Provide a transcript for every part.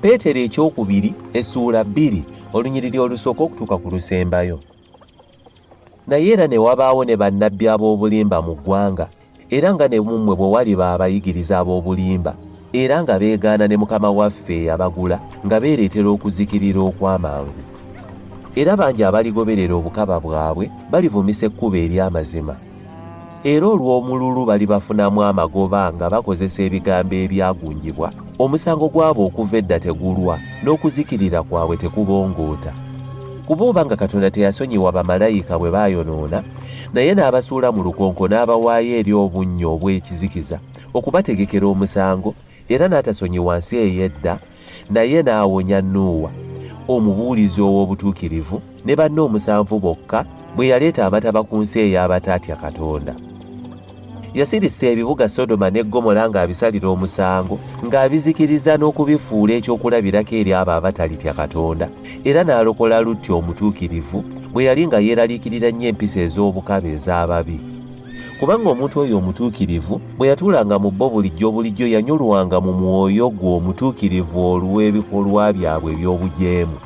peetero ekyokubiri essuula bbiri olunyiriri olusooka okutuuka ku lusembayo naye era ne wabaawo ne bannabbi ab'obulimba mu ggwanga era nga ne mummwe bwe waliba abayigiriza ab'obulimba era nga beegaana ne mukama waffe eyabagula nga beereetera okuzikirira okw'amangu era bangi abaligoberera obukaba bwabwe balivumisa ekkubo ery'amazima era olw'omululu bali bafunamu amagoba nga bakozesa ebigambo ebyagunjibwa omusango gwabwe okuva edda tegulwa n'okuzikirira kwabwe tekubongoota kuba oba nga katonda teyasonyiwa bamalayika bwe baayonoona naye n'abasuula mu lukonko n'abawaayo eri obunnya obw'ekizikiza okubategekera omusango Era n'atasonyiwa nsi ey'edda, naye n'awonya Nuuwa, omubuulizi ow'obutuukirivu, ne banne omusanvu bokka, bwe yaleeta Amataba ku nsi ey'abataatya Katonda. Yasirissa ebibuga Sodoma ne Ggomola ng'abisalira omusango, ng'abizikiriza n'okubifuula ekyokulabirako eri abo abatalitya Katonda, era n'alokola Lutti omutuukirivu, bwe yali nga yeeraliikirira nnyo empisa ez'obukaba ez'ababi. kubanga omuntu oyo omutuukirivu bwe yatuulanga mu bo bulijjo bulijjo yanyulwanga mu mwoyo gwe omutuukirivu olw'ebikolwa byabwe eby'obujeemu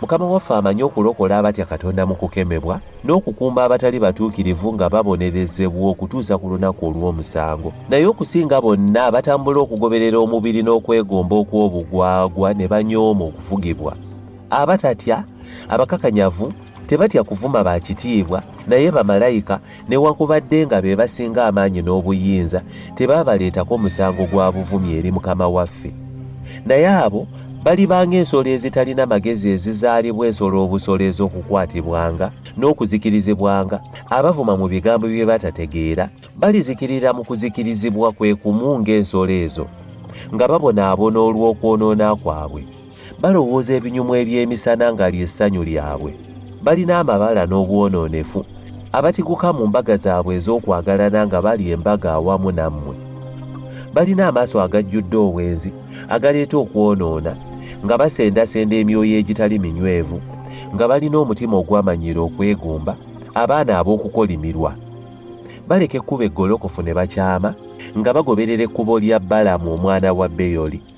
mukama waffe amanyi okulokola abatya katonda mu kukemebwa n'okukuumba abatali batuukirivu nga babonerezebwa okutuusa ku lunaku olw'omusango naye okusinga bonna abatambula okugoberera omubiri n'okwegomba okw'obugwagwa ne banyooma okufugibwa abatatya abakakanyavu Tebatya kuvuma ba kitiibwa, naye bamalayika, newakubadde nga be basinga amaanyi n'obuyinza, tebaabaleetako musango gwa buvumi eri Mukama waffe. Naye abo baliba ng'ensolo ezitalina magezi ezizaalibwa ensolo obusolo ez'okukwatibwanga n'okuzikirizibwanga, abavuma mu bigambo bye batategeera, balizikirira mu kuzikirizibwa kwe kumu ng'ensolo ezo, nga babonaabona olw'okwonoona kwabwe. Balowooza ebinyumu eby'emisana nga ly'essanyu lyabwe. Balina amabala n'obwonoonefu. Abatiguka mu mbaga zaabwe ez'okwagalana nga bali embaga awamu nammwe. Balina amaaso agajjudde obwenzi agaleeta okwonoona, nga basendasenda emyoyo egitali minywevu, nga balina omutima ogwamanyiira okwegomba, abaana ab'okukolimirwa. Baleka ekkubo eggolokofu ne bakyama, nga bagoberera ekkubo lya Balamu omwana wa Beyoli.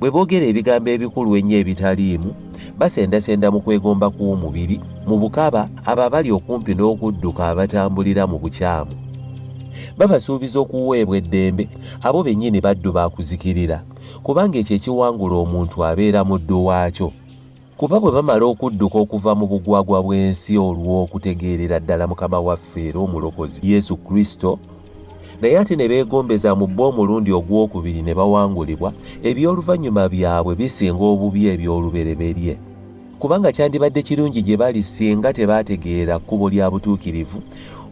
Bwe boogera ebigambo ebikulu ennyo ebitaliimu, basendasenda mu kwegomba kw'omubiri, mu bukaba, abo abali okumpi n'okudduka abatambulira mu bukyamu. Babasuubiza okuweebwa eddembe, abo bennyini baddu ba kuzikirira, kubanga ekyo ekiwangula omuntu abeera muddu waakyo. Kuba bwe bamala okudduka okuva mu bugwagwa bw'ensi olw'okutegeerera ddala Mukama waffe era Omulokozi, Yesu Kristo, naye ate ne beegombeza mu bo omulundi ogw'okubiri ne bawangulibwa, eby'oluvannyuma byabwe bisinga obubi eby'olubereberye. Kubanga kyandibadde kirungi gye bali singa tebaategeera kkubo lya butuukirivu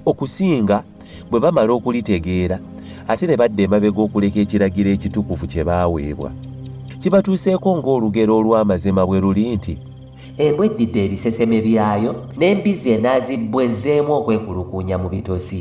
okusinga. bwe bamala okulitegeera ate ne badda emabega okuleka ekiragiro ekitukuvu kye baaweebwa kibatuuseeko ng'olugero olw'amazima bwe luli nti embwa eddidde ebiseseme byayo n'embizzi enaazibbwa ezzeemu okwekulukuunya mu bitosi